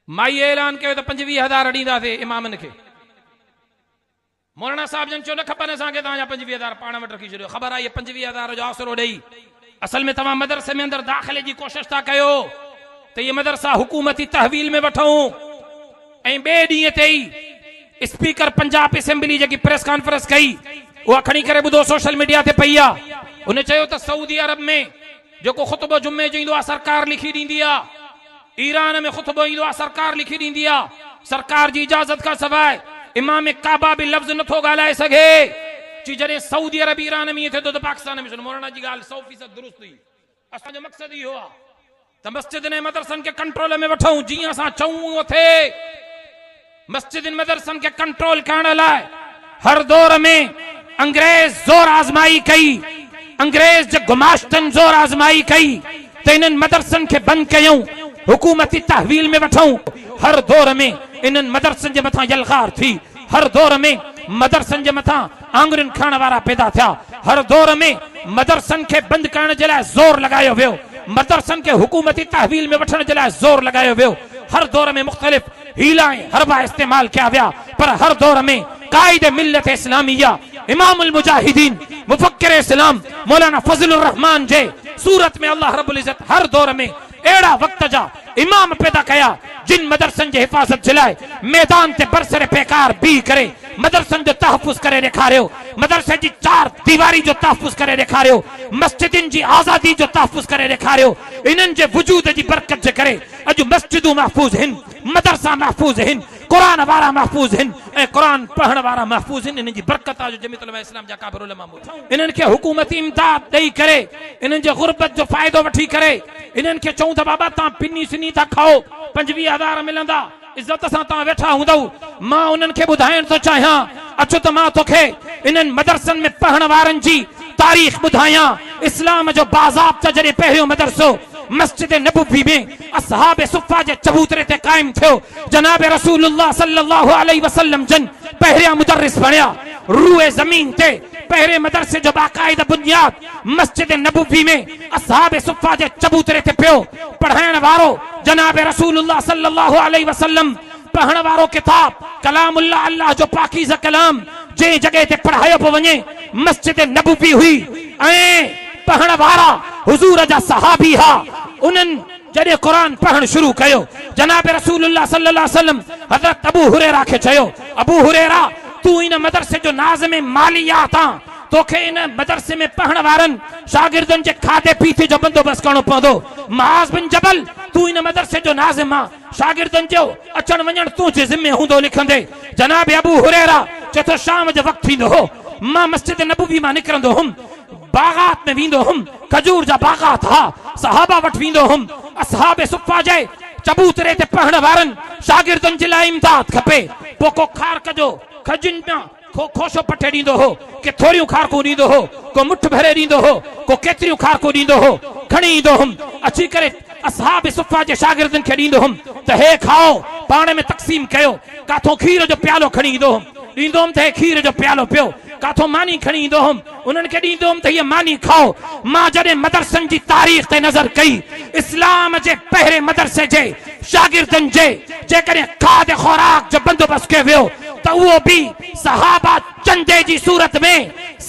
مائيء اعلان ڪيو ته پنجويهه هزار ڏينداسين امامن کي. مولانا صاحب جن چيو نه کپن اسان کي توهان جا پنجويهه هزار پاڻ وٽ رکي ڇڏيو. خبر آهي اهي پنجويهه هزار جو آسرو ڏئي اصل ۾ توهان مدرسي ۾ اندر داخلي جي ڪوشش ٿا ڪيو ته اهي مدرسا حڪومتي تحويل ۾ وٺون ۽ ٻئي ڏينهن تي ئي اسپيڪر پنجاب اسيمبلي جيڪي پريس ڪانفرنس ڪئي اها کڻي ڪري ٻڌو سوشل ميڊيا تي پئي آهي. هن چيو ته سعودي عرب ۾ جيڪو خطبو جمعي جو ايندو آهي سرڪار لکي ڏيندي آهي. ايران ۾ خطبو ايندو آ سرڪار لکي ڏيندي آ سرڪار جي اجازت کان سواء امام ڪعبه به لفظ نٿو ڳالهائي سگهي چي جڏهن سعودي عرب ايران ۾ ائين ٿئي ٿو ته پاڪستان ۾ سنو مولانا جي ڳالهه سئو فيصد درست هئي اسان جو مقصد اهو آ ته مسجدن ۽ مدرسن کي ڪنٽرول ۾ وٺون جيئن اسان چئون ائون ٿئي. مسجدن مدرسن کي ڪنٽرول ڪرڻ لاء هر دور ۾ انگريز زور آزمائي ڪئي انگريز جي گماشتن زور آزمائي ڪئي ته انهن مدرسن کي بند ڪيون حڪومتي تحويل ۾ وٺئون هر دور ۾ انهن مدرسن جي مٿان يلغار ٿي هر دور ۾ مدرسن جي مٿان آڱرين کڻڻ وارا پيدا ٿيا هر دور ۾ مدرسن کي بند ڪرڻ جي لاء زور لڳايو ويو مدرسن کي حڪومتي تحويل ۾ وٺڻ جي لاء زور لڳايو ويو هر دور ۾ مختلف حيلا ۽ حربا استعمال ڪيا ويا پر هر دور ۾ قائد ملت اسلاميه امام المجاهدين مفڪر اسلام مولانا فضل الرحمان جي صورت ۾ الله رب العزت هر دور ۾ اهڙا وقت جا امام پيدا ڪيا جن مدرسن جي حفاظت جي لاء ميدان تي برسر پيڪار بيهي ڪري مدرسن جو تحفظ ڪري ڏيکاريو مدرسي جي چار ديواري جو تحفظ ڪري ڏيکاريو مسجدن جي آزادي جو تحفظ ڪري ڏيکاريو انهن جي وجود جي برڪت جي ڪري اڄ مسجدون محفوظ هن، مدرسا محفوظ هن، قرآن وارا محفوظ هن ۽ قرآن پڙهڻ وارا محفوظ هن، انهن جي برڪت آ جو جميعت علماء اسلام جا اڪابر علماء موجود آهن. انهن کي حڪومتي امداد ڏئي ڪري انهن جي غربت جو فائدو وٺي ڪري انهن کي چئون ته بابا توهان پني سني ٿا کائو پنجويهه هزار ملندا، عزت سان تان ويٺا هوندؤ مان انهن کي ٻڌائڻ ٿو چاهيان اچ ته مان توکي انهن مدرسن ۾ پڙهڻ وارن جي تاريخ ٻڌايان اسلام جو باضابطه جڏهن پهريون مدرسو مسجد نبوي ۾ اصحاب صفه جي چبوتري تي قائم ٿيو جناب رسول الله صلي الله عليه وسلم جن پهريان مدرس بڻيا روئي زمين تي پهرين مدرسي جو باقاعده بنياد مسجد نبوي ۾ اصحاب صفه جي چبوتري تي پيو پڙهائڻ وارو جناب رسول الله صلي الله عليه وسلم پڙهڻ وارو ڪتاب ڪلام الله الله جو پاڪيزه ڪلام جنهن جڳهه تي پڙهايو پيو وڃي مسجد نبوي هئي ۽ پڙهڻ وارا حضور جا صحابي ها انهن جڏهن قرآن پڙهڻ شروع ڪيو جناب رسول الله صلي الله عليه وسلم حضرت ابو هريره کي چيو ابو هريره تون ان مدرسي جو ناظم ماليات آن توکي ان مدرسي ۾ پهڻ وارن شاگردن جي کاڌي پيتي جو بندوبست ڪرڻو پوندو. معاذ بن جبل، تون ان مدرسي جو ناظم آن، شاگردن جو اچڻ وڃڻ تنهنجي ذمي هوندو لکندي. جناب ابو هريره چئي ٿو شام جو وقت ٿيندو هو، مان مسجد نبوي مان نڪرندو هوم، باغات ۾ ويندو هوم، کجور جا باغات ها، صحابه وٽ ويندو هوم، اصحاب صفه جي چبوتري تي پهڻ وارن شاگردن جي لاء امداد کپي، پوکو کارڪ جو کجين مان. ڪو کوشو پٽي ڏيندو هو، ڪي ٿوريون کارڪون ڏيندو هو، ڪو مٺ ڀري ڏيندو هو، ڪو ڪيتريون کارڪون ڏيندو هو، کڻي ايندو هوم، اچي ڪري اصحاب صفه جي شاگردن کي ڏيندو هوم ته هي کائو، پاڻ ۾ تقسيم ڪيو، ڪاٿو کير جو پيالو کڻي ايندو هوم، ڏيندو هوم ته هي کير جو پيالو پيو، ڪاٿو ماني کڻي ايندو هوم. انهن کي ڏيندو هوم ته هيء ماني کائو. مان جڏهن مدرسن جي تاريخ تي نظر ڪئي، اسلام جي پهرين مدرسي جي شاگردن جي جيڪڏهن کاڌ خوراڪ جو بندوبست ڪيو ويو ته اهو به صحابه چندي جي صورت ۾،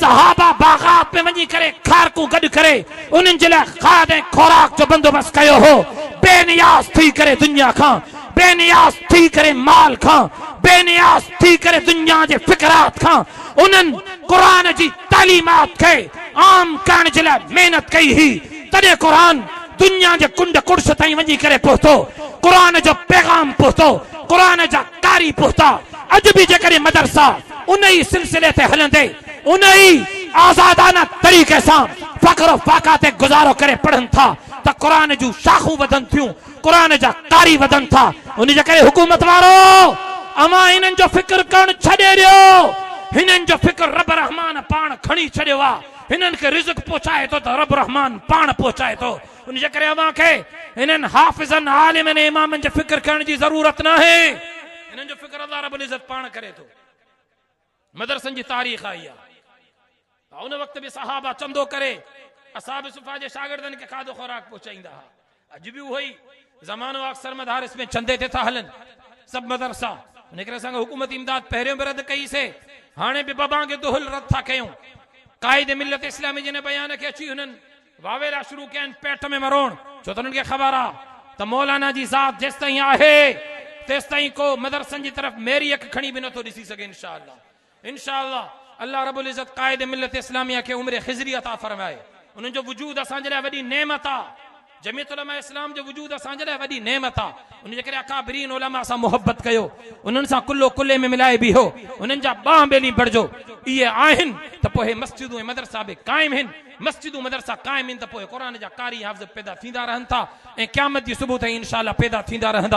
صحابه باغات ۾ وڃي ڪري کارڪون گڏ ڪري انهن جي لاء کاڌ ۽ خوراڪ جو بندوبست ڪيو هو. بي نياز ٿي ڪري دنيا کان، بي نياز ٿي ڪري مال کان، بي نياز ٿي ڪري دنيا جي فقرات کان، انهن قرآن جي تعليمات کي عام ڪرڻ جي لاء محنت ڪئي هئي، تڏهن قرآن دنيا جي ڪنڊ ڪڙس تائين وڃي ڪري پهتو. قرآن جو پيغام پهتو، قرآن جا قاري پهتا. اڄ به جيڪڏهن مدرسا انهي سلسلي تي هلندي انهي آزادانه طريقي سان فخر و فاخا تي گذارو ڪري پڙهن ٿا ته قرآن جون شاخون وڌن ٿيون، قرآن جا قاري وڌن ٿا ان جي ڪري حڪومت وارو اوهان هنن جو فڪر ڪرڻ ڇڏي ڏيو هنن جو فڪر رب رحمان پاڻ کڻي ڇڏيو آ هنن کي رزق پهچائي ٿو ته رب رحمان پاڻ پهچائي ٿو ان جي ڪري اوهان کي هنن حافظن عالمن ۽ امامن جي فڪر ڪرڻ جي ضرورت ناهي هنن جو فڪر الله رب العزت پاڻ ڪري ٿو. مدرسن جي تاريخ آئي آ ته ان وقت به صحابه چندو ڪري اصحاب صفا جي شاگردن کي کاڌو خوراڪ پهچائيندا ها اڄ به اهو ئي زمانو آ اڪثر مدارس ۾ چندي تي ٿا هلن سڀ مدرسا ان ڪري اسان کي حڪومتي امداد پهريون به رد ڪئي سي هاڻي به ببانگ دهل رد ٿا ڪيون قائد ملت اسلامي جن بيان کي اچي هنن واويلا شروع ڪين پيٽ ۾ مروڻ ڇو ته انهن کي خبر آ ته مولانا جي ذات جيستائين آهي تيستائين ڪو مدرسن جي طرف ميري اک کڻي به نٿو ڏسي سگهي انشاء الله انشاء الله الله رب العزت قائد ملت اسلاميه کي عمر خضري عطا فرمائي انهن جو وجود اسان جي لاء وڏي نعمت آ جميعت علماء اسلام جو وجود اسان جي لاء وڏي نعمت آ ان جي ڪري اڪابرين علماء سان محبت ڪيو انهن سان ڪلهو ڪلهي ۾ ملائي بيهو انهن جا ٻانهن ٻيلي بڻجو اهي آهن ته پوء هي مسجدون ۽ مدرسا به قائم هن مسجدون مدرسا قائم ان ته پوء قرآن جا قاري حافظ پيدا ٿيندا رهن ٿا ۽ قيامت جي صبح تائين انشاء الله پيدا ٿيندا رهندا.